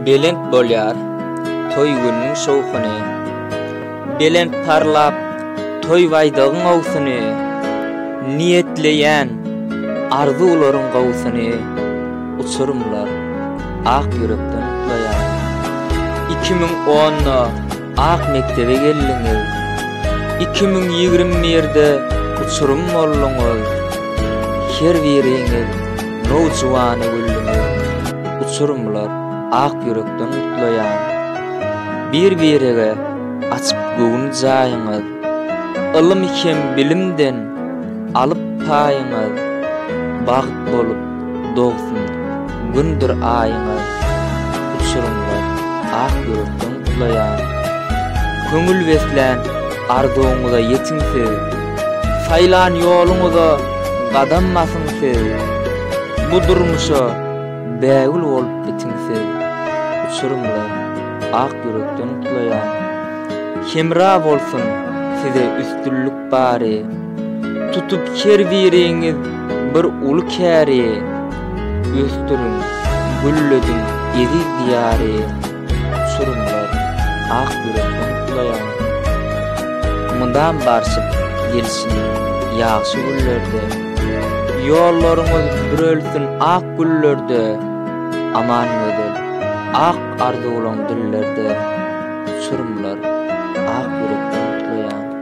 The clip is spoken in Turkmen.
Belent bolýar toý günüň şowhuny, Belent parlap toý baýdagyň owsuny, Niýetleýän arzuwlaryň gowusyny, Uçurymlar ak ýürekden gutlaýar. Iki müň onda. Ak mekdebe geldiňiz. Iki müň ýigrimi birde uçurym bolduňyz. Her biriňiz nowjuwany güldüňiz. Uçurymlar ak ýürekden gutlaýan. Bir-birege açyp göwün jaýyňyz. Ylym hem bilimden alyp paýyňyz. Bagt bolup Dogsun gündür aýyňyz, uçurymlar ak ýürekden ulaýar. Köňül beslän arzuwyňyza ýetiň siz, saýlan ýoluňyza gadam basyň siz, bu durmuşa bägül bolup bitiň siz, uçurymlar ak ýürekden ulaýar. Hemra bolsun size üstünlikler! bary. Tutup her biriňiz bir uly käri, Ösdüriň, güllediň eziz Diýary. Uçurymlar, ak ýürek umytlaýar, Mydam barşyp gelsin ýagşy günlerde. Ýollaryňyz bürelsin ak güllerde, Aman gözel, ak arzuwlaň dillerde. Uçurymlar, ak ýürek umytlaýar.